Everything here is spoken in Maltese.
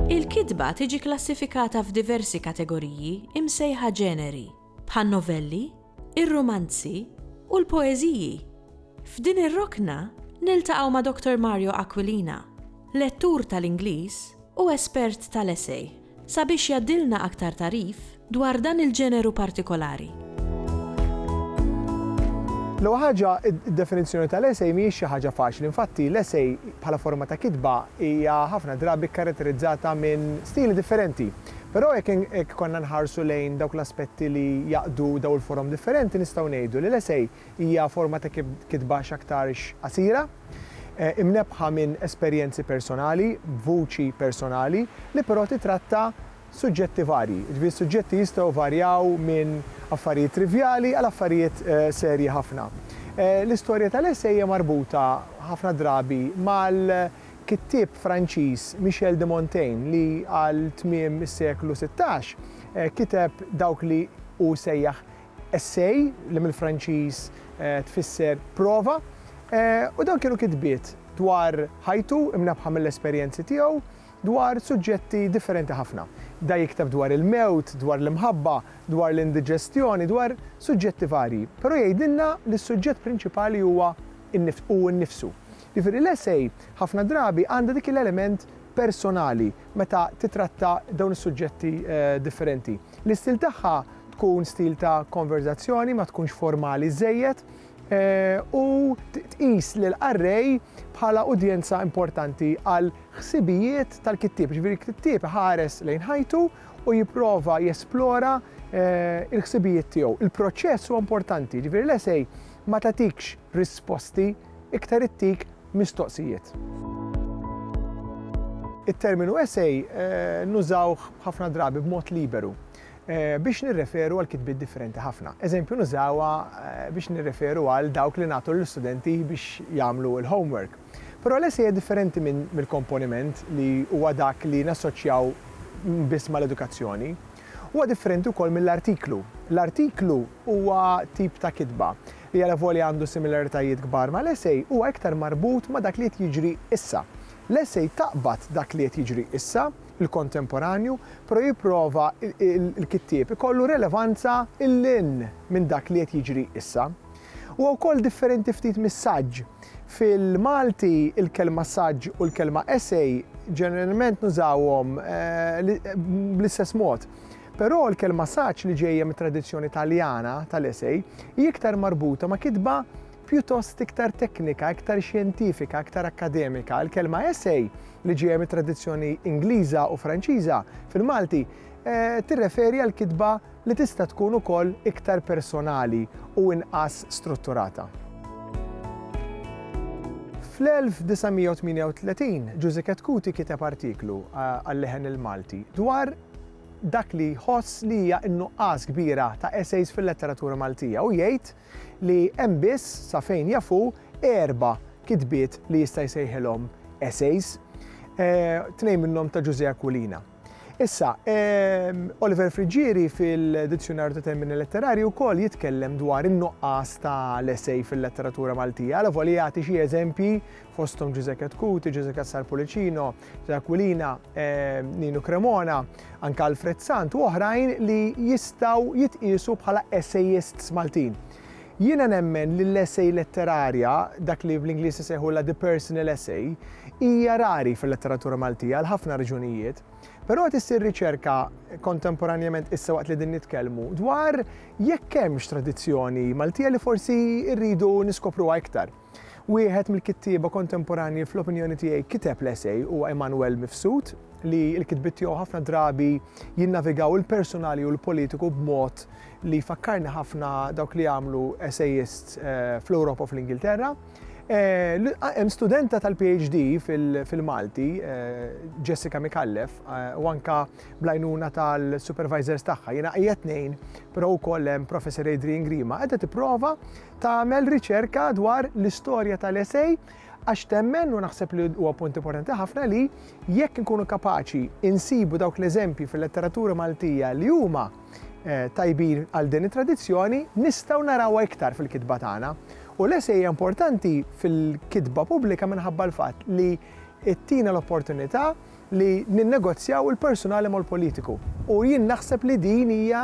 Il-kitba tiġi klassifikata f'diversi kategoriji imsejħa ġeneri, bħan-novelli, ir-rumanzi u l-poeżiji. F'din ir-rokna niltaqgħu ma' Dottor Mario Aquilina, lettur tal-Ingliż u espert tal-essay, sabiex jgħaddilna aktar tagħrif dwar dan il-ġeneru partikolari. L-ewwel ħaġa, id-definizzjoni tal-essay mhijiex xi ħaġa faċli. Infatti, l-essay bħala forma ta' kitba hija ħafna drabi kkaratterizzata minn stili differenti. Però jekk jekk konna nħarsu lejn dawk l-aspetti li jgħaqqdu dawn il-forom differenti nistgħu ngħidu li l-essay hija forma ta' kitba x'aktarx qasira, imnebbħa minn esperjenzi personali, b'vuċi personali, li però titratta suġġetti varji. Jiġifieri s-suġġetti jistgħu jvarjaw minn affarijiet trivjali għal affarijiet serji ħafna. L-istorja tal-essay hija marbuta ħafna drabi mal Kittieb Franċiż Michel de Montaigne li għal tmiem is-seklu sittax kiteb dawk li hu sejjaħ essay li mill-Franċiż tfisser prova u dawn kienu kitbiet dwar ħajtu imnebbħa mill-esperjenzi tiegħu dwar suġġetti differenti ħafna. Bda jikteb dwar il-mewt, dwar l-imħabba, dwar l-indiġestjoni, dwar suġġetti varji. Però jgħidilna li s-suġġett prinċipali huwa hu nnifsu. Jiġifieri l-essay ħafna drabi għandha dik l-element personali meta titratta dawn is-suġġetti differenti. L-istil tagħha tkun stil ta' konverżazzjoni, ma tkunx formali żżejjed, u tqis lill-qarrej bħala udjenza importanti għall-ħsibijiet tal-kittieb. Jiġifieri l-kittieb iħares lejn ħajtu u jipprova jesplora l-ħsibijiet tiegħu. Il-proċess huwa importanti, jiġifieri l-essay ma tagħtikx risposti iktar ittik mistoqsijiet. It-terminu essay nużawh ħafna drabi b'mod liberu biex nirreferu għal kitbiet differenti ħafna. Eżempju nużawha biex nirreferu għal dawk li nagħtu lill-istudenti biex jagħmlu l-homework. Però l-essay hija differenti mill-komponiment li huwa dak li nassoċjaw biss mal-edukazzjoni. Huwa differenti wkoll mill-artiklu. L-artiklu huwa tip ta' kitba li alavolja għandu similaritajiet kbar mal-essay, huwa iktar marbut ma' dak li qed jiġri issa. L-essay taqbad dak li qed jiġri issa, il-kontemporanju, però jipprova l-kittieb ikollu relevanza 'l hinn minn dak li qed jiġri issa. Huwa wkoll differenti ftit mis-saġġ. Fil-Malti, il-kelma saġġ u l-kelma essay ġeneralment nużawhom bl-istess mod. Però l-kelma saġġ li ġejja mit-tradizzjoni Taljana tal-esej hi iktar marbuta ma' kitba pjuttost iktar teknika, iktar xjentifika, iktar akkademika. Il-kelma essay, li ġejja mit-tradizzjoni Ingliża u Franċiża, fil-Malti, tirreferi għal kitba li tista' tkun ukoll iktar personali u inqas strutturata. Fl-1938, Ġużeket Cuti kiteb artiklu għal-Leħen il-Malti dwar dak li jħoss li hija n-nuqqas kbira ta' essays fil-letteratura Maltija u jgħid li hemm biss, sa fejn jaf hu, erba' kitbiet li jista' jsejħilhom essays, tnejn minnhom ta' Ġużè Aquilina. Issa, Oliver Friggieri fil-Dizzjunarju ta' Termini Letterarji wkoll jitkellem dwar in-nuqqas tal-essay fil-letteratura Maltija, alavolja jagħti xi eżempji fosthom Ġużeket Cuti, Ġużeket Sarpulicino, Aquilina, Ninu Cremona, anke Alfred Sant u oħrajn li jistgħu jitqiesu bħala essayists Maltin. Jiena nemmen li l-essej letterarja, dak li bl-Ingliż isejħu la the personal essay, hija rari fil-letteratura Maltija għal ħafna raġunijiet. Però qed issir riċerka kontemporanjament issa waqt li din nitkellmu dwar jekk hemmx tradizzjoni Maltija li forsi rridu niskopruha iktar. Wieħed mill-kittieba kontemporanji fl-opinjoni tiegħi kiteb l-essej huwa Immanuel Mifsud li l-kitbiet tiegħu ħafna drabi jinnavigaw il-persunali u l-politiku b'mod li jfakkarni ħafna dawk li għamlu essayists eh, fl-Ewropa u fl-Ingilterra. Eh, hemm studenta tal-PhD fil-Malti, eh, Jessica Mikallef, u anka blajnuna tal-supervisors tagħha. Jiena qiegħed tnejn, però wkoll hemm Professor Adrian Grima, qiegħda tipprova tagħmel riċerka dwar l-istorja tal-ESEI għax temmen, u naħseb li huwa punt importanti ħafna li jekk inkunu kapaċi insibu dawk l-eżempji fil-letteratura Maltija li huma eh, tajbin għal din it-tradizzjoni, nistgħu narawha iktar fil-kitba tagħna. U l-esej hija importanti fil-kitba pubblika minħabba l-fatt li ttina l-opportunità li ninnegozjaw il-personali mal-politiku. U jien naħseb li din hija